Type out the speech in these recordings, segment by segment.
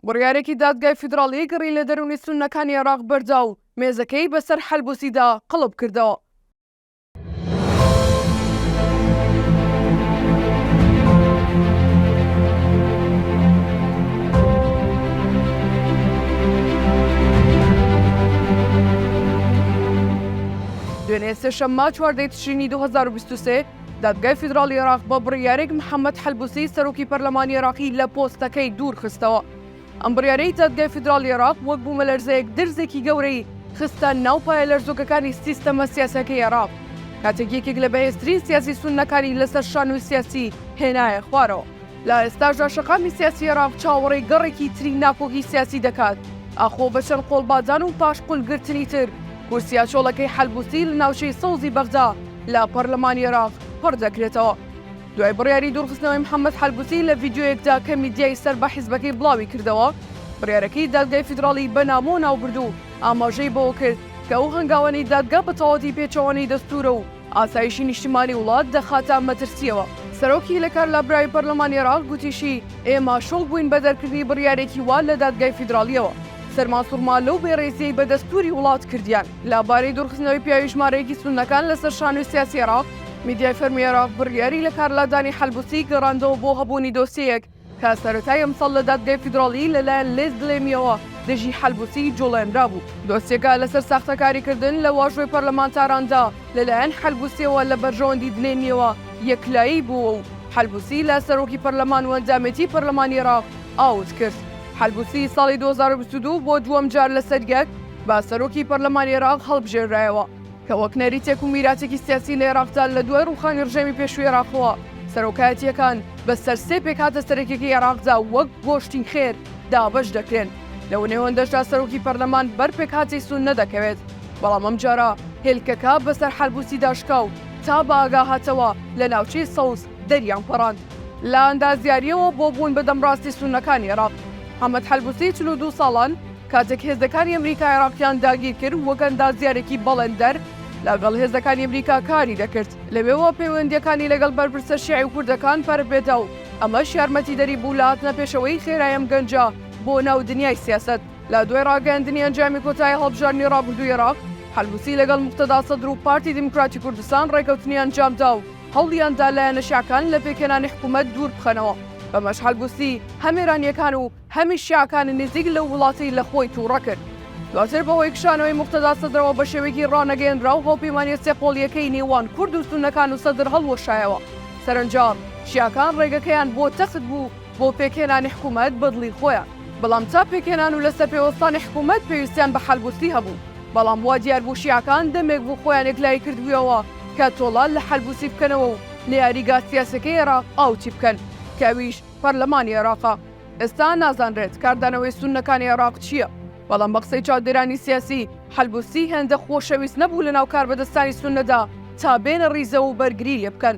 بڕیارێکی دادگای فیدراڵی گڕی لە دەروونی سوننەکانی عێراق بەردا و مێزەکەی بەسەر حەلبوسیدا قڵپ کردەوە. دوێنێ سێشەممە چواردە ی تشرینی دوو هەزار و بیست و سێ، دادگای فیدراڵی عێراق بە بڕیارێک محەمەد حەلبوسی سەرۆکی پەرلەمانی عێراقی لە پۆستەکەی دوور خستەوە. ئەم بڕیارەی دادگای فیدراڵی عێراق وەک بوومەلەرزەیەک درزێکی گەورەی خستە ناو پایە لەرزۆکەکانی سیستەمە سیاسیەکەی عێراق، کاتێک یەکێک لە بەهێزترین سیاسی سوننەکانی لەسەر شانۆی سیاسی هێنایە خوارەوە. لە ئێستاشدا شەقامی سیاسی عێراق چاوەڕێی گەڕێکی تری ناکۆکی سیاسی دەکات، ئاخۆ بە چەند قۆڵبادان و پاشقولگرتنی تر کورسییە چۆڵەکەی حەلبوسی لە ناوچەی سەوزی بەغدا لە پەرلەمانی عێراق پڕ دەکرێتەوە. دوای بڕیاری دوورخستنەوەی محەممەد حەلبوسی لە ڤیدیۆیەکدا کە میدیای سەر بە حیزبەکەی بڵاوی کردەوە، بڕیارەکەی دادگای فیدراڵی بە نامۆ ناوبرد و ئاماژەی بەوە کرد کە ئەو هەنگاوانەی دادگا بە تەواوەتی پێچەوانەی دەستوورە و ئاسایشی نیشتمانی وڵات دەخاتە مەترسییەوە. سەرۆکی لە کار لابرای پەرلەمانی عێراق گوتیشی، ئێمە شۆک بووین بە دەرکردنی بڕیارێکی وا لە دادگای فیدراڵییەوە. سەرمان سوڕما لەو بێڕێزییەی بە دەستووری وڵات کردیان. لە بارەی دوورخستنەوەی پیاوی ژمارەیەکی سوننەکان لە سەر شانۆی سیاسی عێراق، میدیای فەرمی عێراق بڕیاری لە کار لادانی حەلبوسی گەڕاندەوە بۆ هەبوونی دۆسیەیەک کە سەرەتای ئەمساڵ لە دادگای فیدراڵی لەلایەن لێس دلێمییەوە دژی حەلبوسی جوڵێنرابوو. دۆسیەکە لەسەر ساختەکاریکردن لە واژۆی پەرلەمانتاراندا لەلایەن حەلبوسییەوە لە بەرژەوەندی دلێمییەوە یەکلایی بووە و حەلبوسی لە سەرۆکی پەرلەمان و ئەندامێتی پەرلەمانی عێراق ئاوت کرد. حەلبوسی ساڵی دوو هەزار و بیست و دوو بۆ دووەمجار لەسەر یەک بە سەرۆکی پەرلەمانی عێراق هەڵبژێررایەوە. کە وەک نەریتێک و میراتێکی سیاسی لە ئێراقدا لە دوای ڕووخانی ڕژێمی پێشووی ئێراقەوە، سەرۆکایەتییەکان بە سەر سێ پێکهاتە سەرەکیەکەی ئێراقدا وەک گۆشتی خێر دابەش دەکرێن، لەو نێوەندەشدا سەرۆکی پەرلەمان بەر پێکهاتەی سوننە دەکەوێت، بەڵام ئەمجارە هێلکەکە بە سەر حەلبوسیدا شکا و تا بە ئاگا هاتەوە لە ناوچەی سەوز دەریان پەڕاند. لە ئەندازیارییەوە بۆ بوون بە دەمڕاستی سوننەکانی ئێراق، حەمەد حەلبوسی چل و دوو ساڵان، کاتێک هێزەکانی ئەمریکا عێراقیان داگیرکرد وەک ئەندازیارێکی بەڵێندەر لەگەڵ هێزەکانی ئەمریکا کاری دەکرد لەوێوە پەیوەندیەکانی لەگەڵ بەرپرسە شیعی و کوردەکان پەرببێتە و ئەمەش یارمەتیدەری بوو لە هاتنە پێشەوەی خێرای ئەم گەنجە بۆ ناو دنیای سیاسەت لە دوای ڕاگەیاندنی ئەنجامی کۆتایی هەڵبژاردنی ڕابردووی عێراق حەلبوسی لەگەڵ موقتەدا سەدر و پارتی دیموکراتی کوردستان ڕێکەوتنی ئەنجامدا و هەوڵیاندا لایەنە شیعەکان لە پێکهێنانی حکوومەت دوور بخەنەوە بەمەش حەلبوسی هەم ئێرانییەکان و هەمی شیعەکانی نزیک لەو وڵاتەی لە خۆی تووڕە کرد. دواتر بە هۆی کشانەوەی موقتەدا سەدرەوە بە شێوەیەکی ڕانەگەیەنراو هاوپەیمانییە سێ قۆڵییەکەی نێوان کورد و سوننەکان و سەدر هەڵوەشایەوە. سەرەنجام شیعەکان ڕێگەکەیان بۆ تەخت بوو بۆ پێکهێنانی حکوومەت بە دڵی خۆیان. بەڵام تا پێکهێنان و لەسەر پێ وەستانی حکوومەت پێویستیان بە حەلبووسی هەبوو. بەڵام وا دیار بوو شیعەکان دەمێک بوو خۆیان یەکلایی کردبوویەوە کە تۆڵە لە حەلبووسی بکەنەوە و نەیاریگا سیاسییەکەی عێراق ئاوتی بکەن کە ئەویش پەرلەمانی عێراقە. ئێستا نازانرێت کاردانەوەی سوننەکانی عێراق چییە، بەڵام بە قسەی چاودێرانی سیاسی، حەلبوسی هێندە خۆشەویست نەبوو لەناو کاربەدەستانی سوننەدا تا بێنە ڕیزەوە و بەرگری لێ بکەن.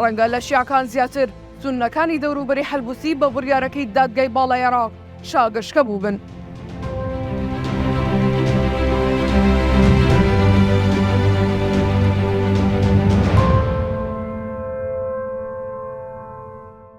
ڕەنگە لە شیعەکان زیاتر، سوننەکانی دەوروبەری حەلبوسی بە بڕیارەکەی دادگای باڵای عێراق شاگەشکە بووبن.